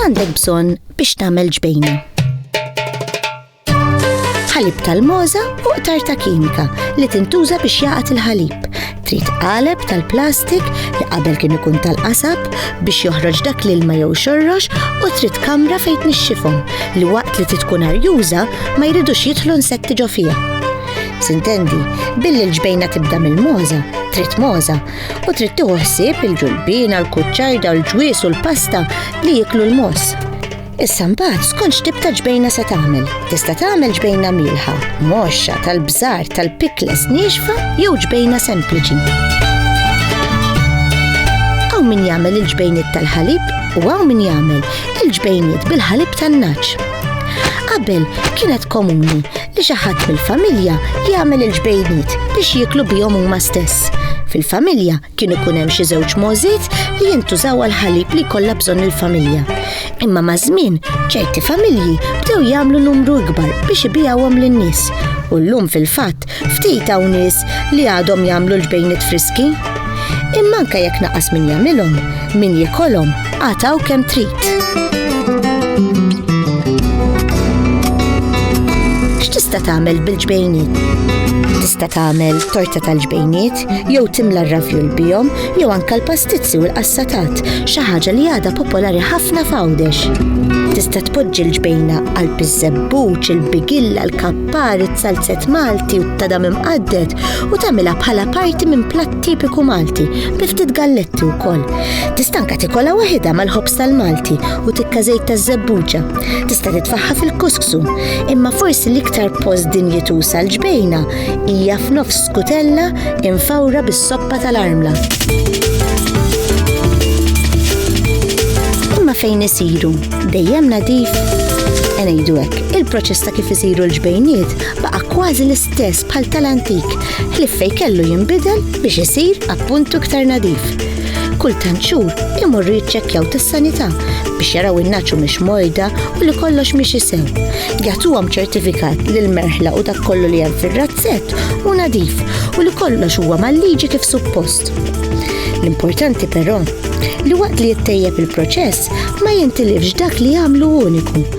X'għandek bżonn biex tagħmel ġbejna? Ħalib tal-moża u qtar ta' kimika li tintuża biex jaqat il-ħalib. Trid qaleb tal-plastik li qabel kien ikun tal-qasab biex joħroġ dak l-ilma jew xorrox u trid kamra fejn nixxifhom li waqt li titkun arjuża ma jridux jidħlu nsetti ġo fiha. Sintendi, billi l-ġbejna tibda mill-moza, trid moza, u trid tieħu ħsieb il-ġulbina, l-kuċċajda, l-ġwies u l-pasta li jiklu l-mos. Issa mbagħad skont x'tib ta' ġbejna se tagħmel. Tista' tagħmel ġbejna milħa, moxxa, tal-bżar, tal-pikles, nixfa jew ġbejna sempliċi. Hawn min jagħmel il-ġbejniet tal-ħalib u hawn min jagħmel il-ġbejniet bil-ħalib tan-naċ. Qabel kienet komuni li xi ħadd mill-familja jagħmel il-ġbejniet biex jieklu bihom huma stess. Fil-familja kien ikun hemm xi żewġ możiet li jintużaw għal ħalib li jkollha bżonn il-familja. Imma ma' żmien ċerti familji bdew jagħmlu numru ikbar biex ibijawhom lin-nies. U llum fil-fatt ftit hawn nies li għadhom jagħmlu l-ġbejniet friski. Imma anke jekk naqas min jagħmilhom, min jikolhom Għataw kemm trid. X'tista' tagħmel bil-ġbejniet? Tista' tagħmel torta tal-ġbejniet jew timla r-ravjul bihom jew anke l-pastizzi u l-qassatat, xi ħaġa li għadha popolari ħafna f'Għawdex. Tista' tpoġġi l-ġbejna għal piżżebbuċ, il-bigilla, l-kappar, it-salzet Malti u t-tadam imqadded u tagħmilha bħala parti minn platt tipiku Malti, bi ftit galletti wkoll. Tista' anke tikolha waħidha mal-ħobż tal-Malti u tikka żejt ta' żebbuġa. Tista' titfaħħa fil-kuskusu, imma forsi l-iktar post dinjituż għal ġbejna hija f'nofs skutella infawra bis-soppa tal-armla. Imma fejn isiru, dejjem nadif ngħidu hekk, il-proċess ta' kif isiru l-ġbejniet baqa' kważi l-istess bħal tal-antik ħlief fejn kellu jinbidel biex isir appuntu iktar nadif. Kull tant xhur imorru jiċċekkjaw tas-sanità biex jaraw in-naċu mhix mojda u li kollox mhix isew. Jagħtuhom ċertifikat li l-merħla u dak kollu li hemm fir-razzett u nadif u li kollox huwa mal-liġi kif suppost. L-importanti però li waqt li jittejjeb il-proċess ma jintilifx dak li jagħmlu uniku